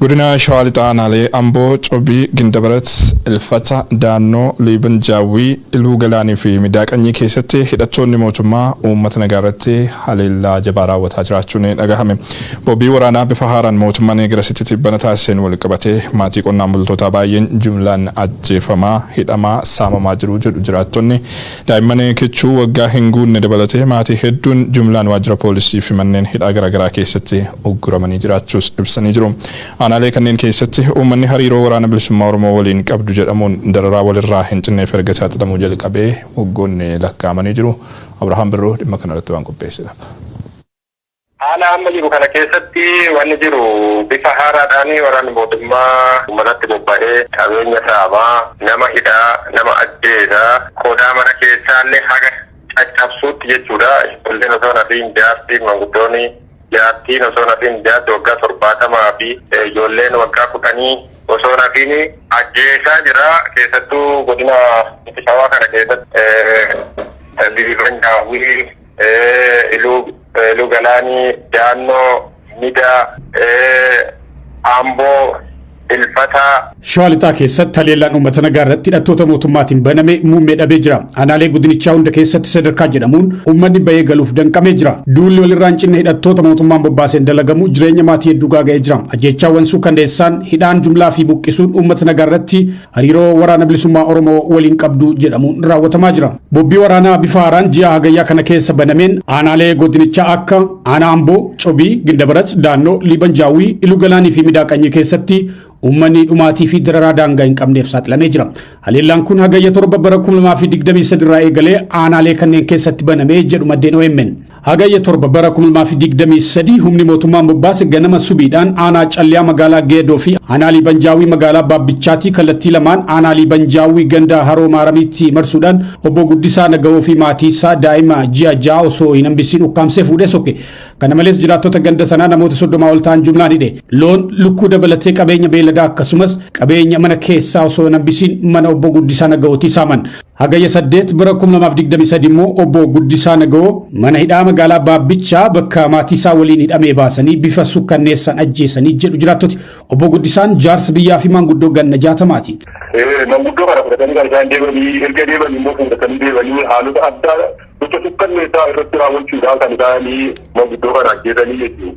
Godina Shawaa Lixaa Aanaalee Amboo, Cobii, Gindabarat, Ilfata, Daannoo, Liiban Jaawwii, Iluu Galaanii fi Midaa Qanyii keessatti hidhattoonni mootummaa uummata nagaa irratti haleellaa jabaa raawwataa jiraachuun dhagahame. Bobii waraanaa bifa haaraan mootummaan eegarasitti tibbana taasiseen walqabatee maatii qonnaan bultootaa baay'een jumlaan ajjeefamaa, hidhamaa, saamamaa jiru jedhu jiraattonni. Daa'imman kichuu waggaa hin guunne dabalatee maatii hedduun jumlaan waajjira poolisii fi manneen hidhaa garaagaraa keessatti ugguramanii jiraachuus ibsanii jiru. Aanaalee kanneen keessatti uummanni hariiroo Waraana Bilisummaa Oromoo waliin qabdu jedhamuun dararaa walirraa hin cinneef erga saaxilamuu jalqabee waggoonni lakkaa'amanii jiru. Abrahaam Birruu dhimma kanarratti waan qopheesse qaba. Haala amma jiru kana keessatti wanni jiru bifa haaraadhaan waraanni mootummaa uummatatti bobba'ee qabeenya saamaa, nama hidhaa, nama ajjeesa, qodaa mana keessaallee haga caccabsuutti jechuudha. Ijoolleen osoo hin hafiin jaartiin, manguddooni, jaartiin osoo hin hafiin jaarsi waggaa torbaatamaafi ijoolleen waggaa kudhanii osoo hin hafiin ajjeesaa jira. Keessattuu godina Lixa Shawaa kana keessatti Liiban Daawwii. Iluu Iluu Galaanii Daannoo Midaa. Amboo Ilfataa. Shawaa Lixaa keessatti haleellaan uummata nagaa irratti hidhattoota mootummaatiin baname muummee dhabee jira. Aanaalee godinichaa hunda keessatti sadarkaa jedhamuun uummanni bahee galuuf danqamee jira. Duulli walirraa hin cinne hidhattoota mootummaan bobbaaseen dalagamu jireenya maatii hedduu gaaga'ee jira. Ajjeechaawwan suukanneessaan, hidhaan jumlaa fi buqqisuun uummata nagaa irratti hariiroo waraana bilisummaa Oromoo waliin qabdu jedhamuun raawwatamaa jira. Bobbii waraanaa bifa haaraan ji'a hagayyaa kana keessa banameen aanaalee godinichaa akka aanaa Amboo, Cobii, Gindabarat, Daannoo, Liiban Jaawwii, Iluu Galaanii fi Midaa Qanyii keessatti uummanni dhumaatii fi dararaa daangaa hin qabneef saaxilamee jira. Haleellaan kun hagayya torba bara 2023 irraa eegalee aanaalee kanneen keessatti banamee jedhu maddeen OMN. Hagayya 7 bara 2023 humni mootummaan bobbaase ganama subiidhaan aanaa calliyaa magaalaa Geedoo fi aanaa Liibanjaawwii magaalaa Baabbichaatii kallattii lamaan aanaa Liibanjaawwii ganda Haroo Maaramiitti marsuudhaan obbo Guddisaa Nagawoo fi maatii isaa daa'ima ji'a ja'a osoo hin hambisiin ukkaamsee fuudhee sokke. Kana malees jiraattota ganda sanaa namoota soddomaa ol ta'an jumlaan hidhe. Loon, lukkuu dabalatee qabeenya beelladaa akkasumas qabeenya mana keessaa osoo hin hambisiin mana obbo Guddisaa Nagawootii saaman. Hagayya 8 bara 2023 immoo obbo Guddisaa Nagawoo mana hidhaa magaalaa Baabbichaa bakka maatii isaa waliin hidhamee baasanii bifa sukkanneessaan ajjeesanii jedhu jiraattoti. Obbo Guddisaan jaarsa biyyaa fi maanguddoo ganna jaatamaati. Manguddoo kana fudhatanii kan isaan deemanii erga deemanii immoo fuudhatanii deemanii haalota addaa gocha sukkanneessaa irratti raawwachuudhaan kan isaanii manguddoo kana ajjeesanii jechuudha.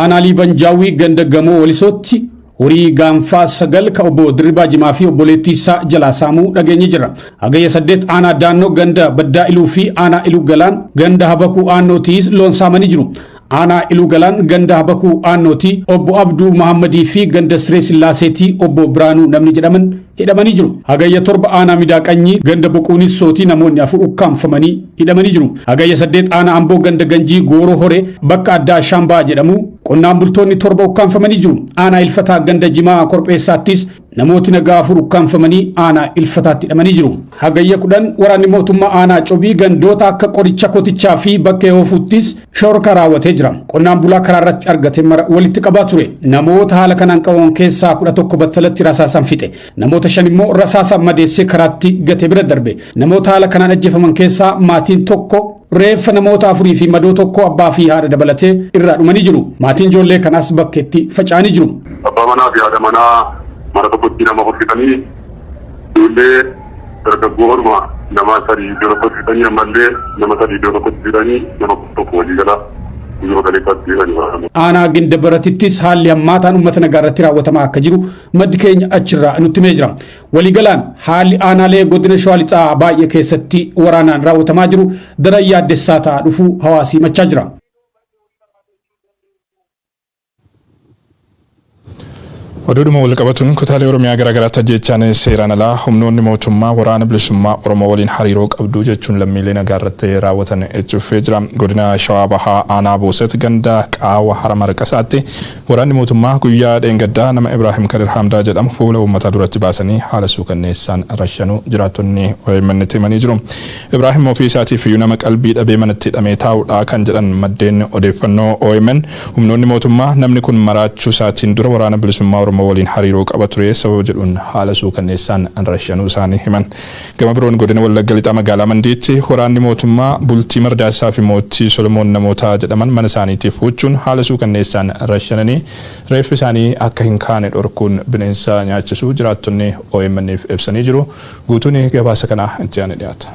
Aanaa Liiban Jaawwii ganda gamoo walisootti horii gaanfaa sagal ka obbo Dirribaa Jimaa fi obboleettii isaa jalaa saamuu dhageenye jira. Hagayya saddeet aanaa daannoo ganda baddaa iluu fi aanaa iluu galaan ganda habakuu aannootiis loon saamanii jiru. Aanaa iluu galaan ganda habakuu aannooti obbo Abduu Mahammadii fi ganda Siree Sillaaseetii obbo Biraanuu namni jedhaman hidhamanii jiru. Hagayya 7 aanaa Midaa Qanyii ganda Boquunissootii namoonni afur ukkaamfamanii hidhamanii jiru. Hagayya 8 aanaa Amboo ganda Ganjii Gooroo Horee bakka addaa Ashaambaa jedhamu qonnaan bultoonni torba ukkaamfamanii jiru. Aanaa Ilfataa ganda Jimaa Korpheessaattis namooti nagaa afur ukkaamfamanii aanaa Ilfataatti hidhamanii jiru. Hagayya 10 waraanni mootummaa aanaa Cobii gandoota akka qoricha kotichaa fi bakka Hoofuuttis Shororkaa raawwatee jira. Qonnaan bulaa karaa irratti argate mara walitti qabaa ture. Namoota haala kanaan qabaman keessaa kudha tokko battalatti rasaasaan fixe. Namoota shan immoo rasaasaan madeessee karaatti gatee bira darbe. Namoota haala kanaan ajjeefaman keessaa maatiin tokko reeffa namoota afurii fi madoo tokko abbaa fi haadha dabalatee irraa dhumanii jiru. Maatiin ijoollee kanaas bakkeetti faca'anii jiru. Abbaa manaa fi haadha manaa mana tokkotti nama hojjetanii ijoollee Dargaggoo harma namaa sadii iddoo tokkotti fixanii ammallee nama sadii iddoo tokkotti fixanii nama kudha tokko walii gala guyyuma kaleessaatti hidhani waraana. Aanaa Ginda Baratittis haalli hammaataan uummata nagaa irratti raawwatamaa akka jiru maddi keenya achirraa nutti himee jira. Waliigalaan haalli aanaalee godina Shawaa Lixaa baay'ee keessatti waraanaan raawwatamaa jiru daran yaaddessaa ta'aa dhufuu hawaasii himachaa jira. Oduudhuma walqabatuun kutaalee Oromiyaa garaagaraatti ajjeechaan seeraan alaa humnoonni mootummaa Waraana Bilisummaa Oromoo waliin hariiroo qabdu jechuun lammiilee nagaarratti raawwatan itti fufee jira. Godina Shawaa Bahaa Aanaa Booset ganda Qaawa Hara Marqasaatti waraanni mootummaa guyyaa dheengaddaa nama Ibraahim Kadir Hamdaa jedhamu fuula uummataa duratti baasanii haala suukanneessaan rashanuu jiraattonni OMNtti himanii jiru. Ibraahim ofii isaatiifiyyuu nama qalbii dhabee manatti hidhamee taa'udha kan jedhan maddeen odeeffannoo omn Humnoonni mootummaa namni kun maraachuu isaatiin dura Waraana Bilisummaa Oromoo waliin hariiroo qaba ture sababa jedhuun haala suukanneessaan rashanuu isaanii himan. Gama biroon Godina Wallagga Lixaa Magaalaa Mandiitti waraanni mootummaa Bultii Mardaasaa fi Mootii Solomoon namoota jedhaman mana isaaniitiif huuchuun haala suukanneessaan rashananii reeffi isaanii akka hin kaane dhorkuun bineensa nyaachisuu jiraattonni OMN'f ibsanii jiru. Guutuun gabaasa kanaa itti aanee dhiyaata.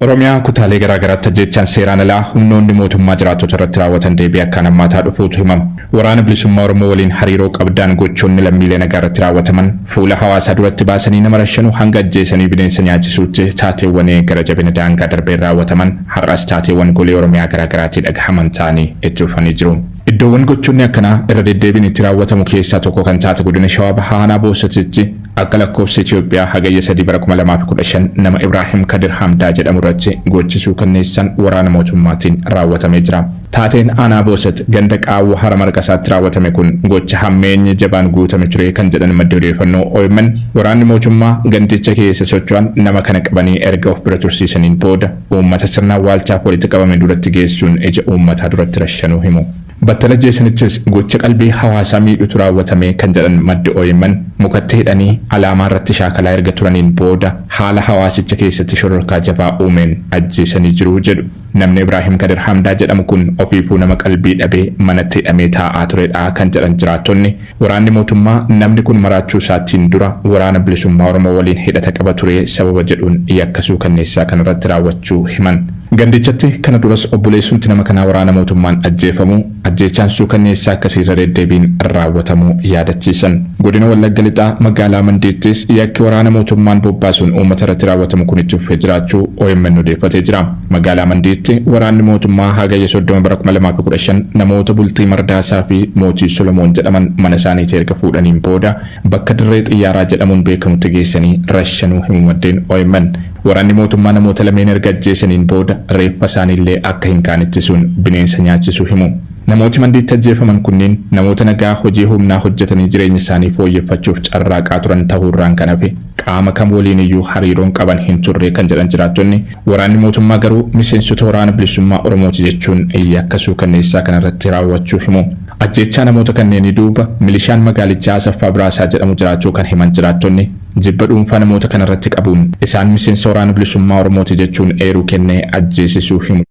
Oromiyaa kutaalee garaa garaatti ajjeechaan seeraan alaa humnoonni mootummaa jiraattota irratti raawwatan deebi'ee akkaan hammaataa dhufuutu himama. Waraana Bilisummaa Oromoo waliin hariiroo qabdaan gochoonni lammiilee nagaa irratti raawwataman fuula hawaasaa duratti baasanii nama rashanuu hanga ajjeesanii bineensa nyaachisuutti taateewwan gara jabina daangaa darbeen raawwataman har'as taateewwan golee Oromiyaa garaa garaatii dhagahaman ta'anii itti fufanii jiru. Iddoowwan gochoonni akkanaa irra deddeebiin itti raawwatamu keessaa tokko kan taate godina Shawaa Bahaa aanaa Boossatitti Akka lakkoofsa Itoophiyaa Hagayya 3 bara 2015 nama Ibraahim Kadir Hamdaa jedhamu irratti gochi suukanneessaan waraana mootummaatiin raawwatamee jira. Taateen aanaa Boosat ganda Qaawwa Hara Marqasaatti raawwatame kun gocha hammeenyi jabaan guutame ture kan jedhan maddi odeeffannoo omn, waraanni mootummaa gandicha keessa socho'an nama kana qabanii erga of bira tursiisaniin booda uummata sirna awwaalchaaf walitti qabame duratti geessuun ija uummataa duratti rashanuu himu. Battala jeesanichis gocha qalbii hawaasaa miidhutu raawwatame kan jedhan maddi omn, mukatti hidhanii alaamaa irratti shaakalaa erga turaniin booda haala hawaasicha keessatti shororkaa jabaa uumeen ajjeesanii jiru jedhu. Namni Ibraahim Kadir Hamdaa jedhamu kun ofiifuu nama qalbii dhabee manatti hidhamee taa'aa turedha kan jedhan jiraattonni, Waraanni mootummaa namni kun maraachuu isaatiin dura Waraana Bilisummaa Oromoo waliin hidhata qaba ture sababa jedhuun yakka suukanneessaa kana irratti raawwachuu himan. Gandichatti kana duras obboleessumti nama kanaa waraana mootummaan ajjeefamuu, ajjeechaan suukanneessaa akkasii irra deeddeebiin raawwatamuu yaadachiisan. Godina Wallagga Lixaa magaalaa Mandiittis yakki waraana mootummaan bobbaasuun uummata irratti raawwatamu kun itti fufee jiraachuu omn odeeffatee jira. Magaalaa Mandiitti waraanni mootummaa Hagayya 30 bara 2015 namoota Bultii Mardaasaa fi Mootii Solomoon jedhaman mana isaaniitii erga fuudhaniin booda bakka dirree xiyyaaraa jedhamuun beekamutti geessanii rashanuu himu maddeen omn. Waraanni mootummaa namoota lameen erga ajjeesaniin booda reeffa isaanii illee akka hin kaane ittisuun bineensa nyaachisuu himu. Namooti Mandiitti ajjeefaman kunniin namoota nagaa hojii humnaa hojjetanii jireenya isaanii fooyyeffachuuf carraaqaa turan tahuu irraan kan hafe qaama kam waliin iyyuu hariiroon qaban hin turre kan jedhan jiraattonni, Waraanni mootummaa garuu miseensota Waraana Bilisummaa Oromooti jechuun yakka suukanneessaa kana irratti raawwachuu himu. Ajjeechaa namoota kanneenii duuba milishaan magaalichaa Asaffaa Biraasaa jedhamu jiraachuu kan himan jiraattonni, jibba dhuunfaa namoota kana irratti qabuun isaan miseensa Waraana Bilisummaa Oromooti jechuun eeruu kennee ajjeesisuu himu.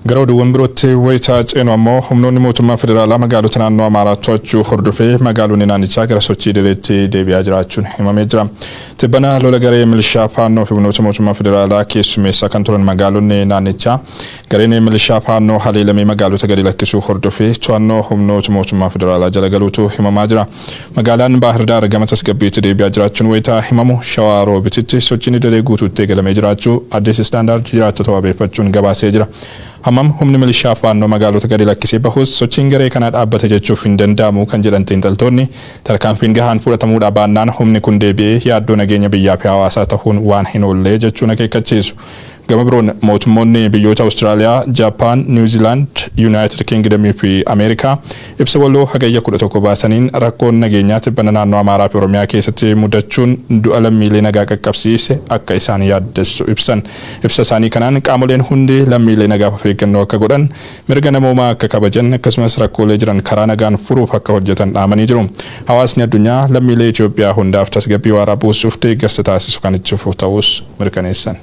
Gara oduuwwan birootti wayita ceenu ammoo humnoonni mootummaa federaalaa magaalota naannoo Amaaraa to'achuu hordofee magaalonni naannichaa gara sochii idileetti deebi'aa jiraachuun himamee jira. Tibbana lola garee milishaa Faannoo fi humnoota mootummaa federaalaa keessummeessaa kan turan magaalonni naannichaa Gareen milishaa Faannoo haleelamee magaalota gadi lakkisuu hordofee to'annoo humnoota mootummaa federaalaa jala galuutu himamaa jira. Magaalaan Baahir Daar gama tasgabbiitti deebi'aa jiraachuun wayita himamu, Shawaa Roobititti sochiin idilee guutuutti eegalamee jiraachuu Addis Standard jiraattota wabeeffachuun gabaasee jira. Hammam humni milishaa Faannoo magaalota gadi lakkisee bahus sochiin garee kanaa dhaabbate jechuuf hin danda'amu kan jedhan xiinxaltoonni, tarkaanfiin gahaan fudhatamuudhaa baannaan humni kun deebi'ee yaaddoo nageenya biyyaafi hawaasaa tahuun waan hin oolle jechuun akeekkachiisu. Gama biroon mootummoonni biyyoota Awustiraaliyaa, Jaappaan, Niiw Ziilaand, Yuunaayitid Kiingidamii fi Ameerikaa ibsa waloo Hagayya 11 baasaniin rakkoon nageenyaa tibbana naannoo Amaaraa fi Oromiyaa keessatti mudachuun du'a lammiilee nagaa qaqqabsiise akka isaan yaaddessu ibsan. Ibsa isaanii kanaan qaamoleen hundi lammiilee nagaaf of eeggannoo akka godhan, mirga namoomaa akka kabajan akkasumas rakkoolee jiran karaa nagaan furuuf akka hojjetan dhaamanii jiru. Hawaasni addunyaa lammiilee Itiyoophiyaa hundaaf tasgabbii waaraa buusuuf deeggarsa taasisu kan itti fufu ta'uus mirkaneessan.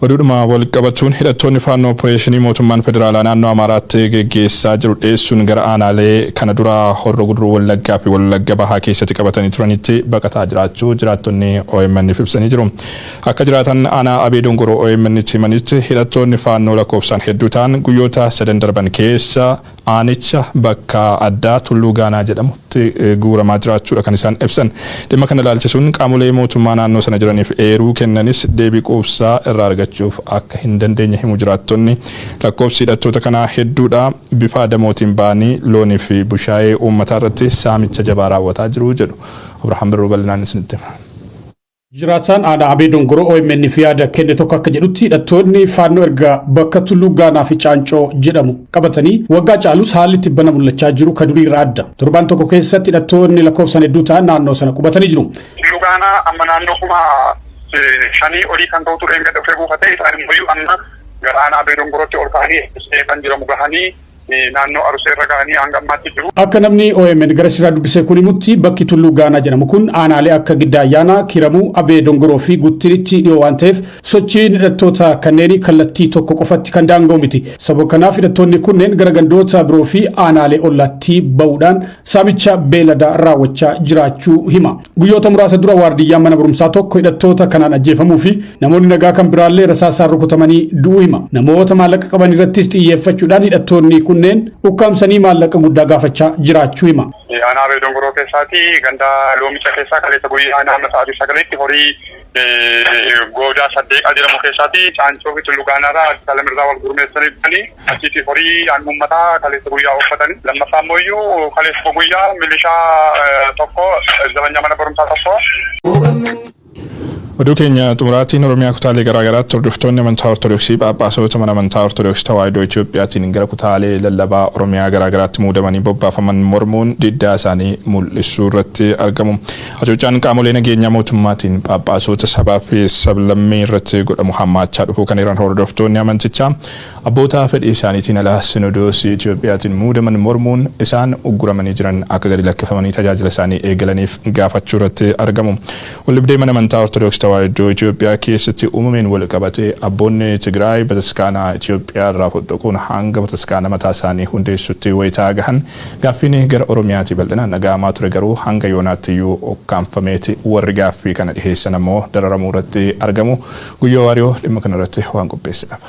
Oduudhuma wal qabachuun hidhattoonni faannoo opereeshinii mootummaan federaalaa naannoo Amaaraatti geggeessaa jiru dheessuun gara aanaalee kana dura horro guduruu wallaggaa fi wallagga bahaa keessatti qabatanii turanitti baqataa jiraachuu jiraattonni OMN'f ibsanii jiru. Akka jiraatan aanaa Abee Dongoroo OMN'tti himanitti hidhattoonni faannoo lakkoofsaan hedduu ta'an guyyoota sadan darban keessa Aanicha bakka addaa Tulluu Gaanaa jedhamutti guuramaa jiraachuudha kan isaan ibsan. Dhimma kana ilaalchisuun qaamolee mootummaa naannoo sana jiraniif eeruu kennanis deebii quubsaa irraa argachuuf akka hin dandeenye himu jiraattonni. Lakkoofsi hidhattoota kanaa hedduudha. Bifa adamootiin ba'anii loonii fi bushaayee uummataa irratti saamicha jabaa raawwataa jiru jedhu. Abrahaam Birruu bal'inaan isinitti hima. Jiraataan aanaa Abee Dongoroo OMN'f yaada kenne tokko akka jedhutti hidhattoonni faannoo erga bakka Tulluu Gaanaa fi Caancoo jedhamu qabatanii waggaa caalus haalli tibbana mul'achaa jiru ka durii irraa adda. Torbaan tokko keessatti hidhattoonni lakkoofsan hedduu ta'an naannoo sana qubatanii jiru. Tulluu Gaanaa amma naannoo kuma shanii olii kan ta'utu dheengadda dhufee buufate isaan immoo amma gara aanaa Abee Dongorootti ol ka'anii kan jedhamu gahanii naannoo Arusee irra ga'anii hanga ammaatti jiru. Akka namni omn garasiraa dubbise kun himutti bakki Tulluu Gaanaa jedhamu kun aanaalee akka Giddaa Ayyaanaa, Kiramuu, Abee Dongoroo fi Guttiritti dhiyoo waan ta'eef sochiin hidhattoota kanneenii kallattii tokko qofatti kan daanga'u miti. Sababa kanaaf hidhattoonni kunneen gara gandoota biroo fi aanaalee ollaatti ba'uudhaan saamicha beeladaa raawwachaa jiraachuu hima. Guyyoota muraasa dura waardiyyaan mana barumsaa tokko hidhattoota kanaan ajjeefamuu fi namoonni nagaa kan biraallee rasaasaan rukutamanii du'uu hima. Namoota maallaqa qaban irrattis xiyyeeffachuudhaan hidhattoonni kunneen ukkaamsanii maallaqa guddaa gaafachaa jiraachuu hima. Aanaa Beedongoroo keessaati ganda loomicha keessaa kaleessa guyyaa naannoo sa'aatii sagaleetti horii goodaa saddeeqaa jedhamu keessaati caancoo fi tullu gaanaarraa addis alam irraa wal gurmeessanii dhufanii achiiti horii aannan ummataa kaleessa guyyaa ooffatanii lammaffaa immoo iyyuu kaleessa guyyaa milishaa tokko zabanyaa mana barumsaa tokko Oduu keenya xumuraatiin Oromiyaa kutaalee garaagaraatti hordoftoonni amantaa Ortodoksii Phaaphaasota mana amantaa Ortodoksii Tawaahidoo Itiyoophiyaatiin gara kutaalee lallabaa Oromiyaa garaagaraatti muudamanii bobbaafaman mormuun diddaa isaanii mul'isuu irratti argamu. Hacuuccaan qaamolee nageenyaa mootummaatiin Phaaphaasota sabaa fi sablammii irratti godhamu hammaachaa dhufuu kan eeran hordoftoonni amantichaa, abboota fedhii isaaniitiin ala Sinodoosii Itoophiyaatiin muudaman mormuun isaan ugguramanii jiran akka gadi lakkifamanii tajaajila isaanii eegalaniif gaafachuu irratti argamu. Waldhibdee Mana Amantaa Ortodoks Tawaahidoo Itoophiyaa keessatti uumameen walqabatee abboonni Tigraay bataskaana Itoophiyaa irraa foxxoquun hanga bataskaana mataa isaanii hundeessuutti wayitaa gahan Gaaffiin gara Oromiyaatii bal'inaan dhaga'amaa ture garuu hanga yoonaattiyuu ukkaamfameeti. Warri gaaffii kana dhiheessan ammoo dararamuurratti argamu. Guyyoo Waariyoo dhimma kanarratti waan qopheesse qaba.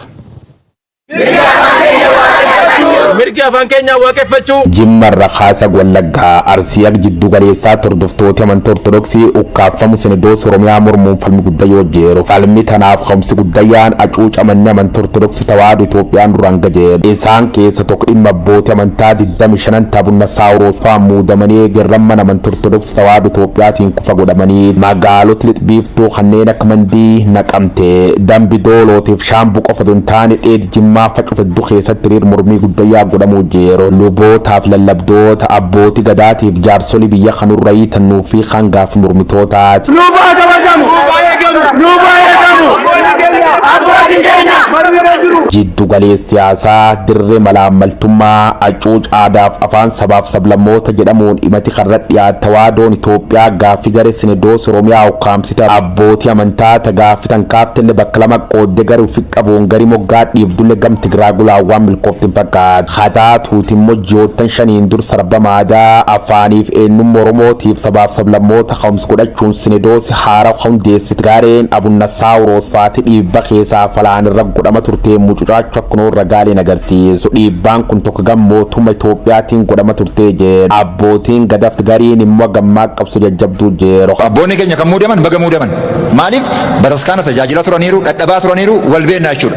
Mirgi afaan keenyaa waaqeffachuu. Jimma irra kaasa Wallaggaa, Arsii haga jiddu galeessaa tordoftooti amantii Ortodoksii ukkaaffamu Sinidoos Oromiyaa mormuun falmi guddayyoo jiru. Falmi tanaaf ka'umsi guddayyaan acuucamanni amantii Ortodoksii Tawaahdo Itoophiyaan duraan gad jedhe. Isaan keessa tokko dhimma abbooti amantaa 25n Tabunna Saawuroos fa'aan muudamanii eegerran mana amanti Ortodoksi Tawaahdo Itoophiyaatiin kufa godhamanii magaaloti lix biiftuu kanneen akka Mandii, Naqamte, Dambi Doolootiif Shaambu qofa otoo hin taane dheedi Jimmaa fa cufa heddu keessatti hiriir mormii guddayyaa godhamuu jiru. Lubootaaf lallabdoota, abbooti gadaatiif jaarsoli biyya kanurrayii tan nuuffii hangaaf mormitootaa. Nuuf haa kabajamu! Nuuf haa eegamu! Abbootiin keenya marmirra jiru! Jiddu galee siyaasaa dirree malaammaltummaa acuuc aadaaf afaan sabaaf sablammoota jedhamuun imati karra dhiyaat tawaadoon Itoophiyaa gaaffi gare sinedoos Oromiyaa ukkaamsite abbooti amantaa ta gaaffi tan kaaftelle bakka lama qoodde gari ufi qabuun gari moggaa dhiibdulle gam Tigraa gulaawwaan milkooftin fakkaat. Hataa tuuti immoo ji'oottan shaniin dur sarbama aadaa, afaaniif eennumma Oromootiif sabaaf sablammoota ka'umsi godhachuun sinedoosi haarawa ka hundeessite gaareen Abunna Saawuroos faati dhiibba keesaa fi alaan irra godhama turteen mucucaachu akkunoon ragaaleen agarsiisu dhiibbaan kun tokko gam mootumma Itoophiyaatiin godhama turtee jeeru abbootiin Gadaft gariin immoo hagammaa qabso jajjabduu jeeru. Abboonni keenya kan muudaman baga muudaman. Maaliif bataskaana tajaajilaa turaniiru, dhadhabaa turaniiru, wal beennaa jechuudha.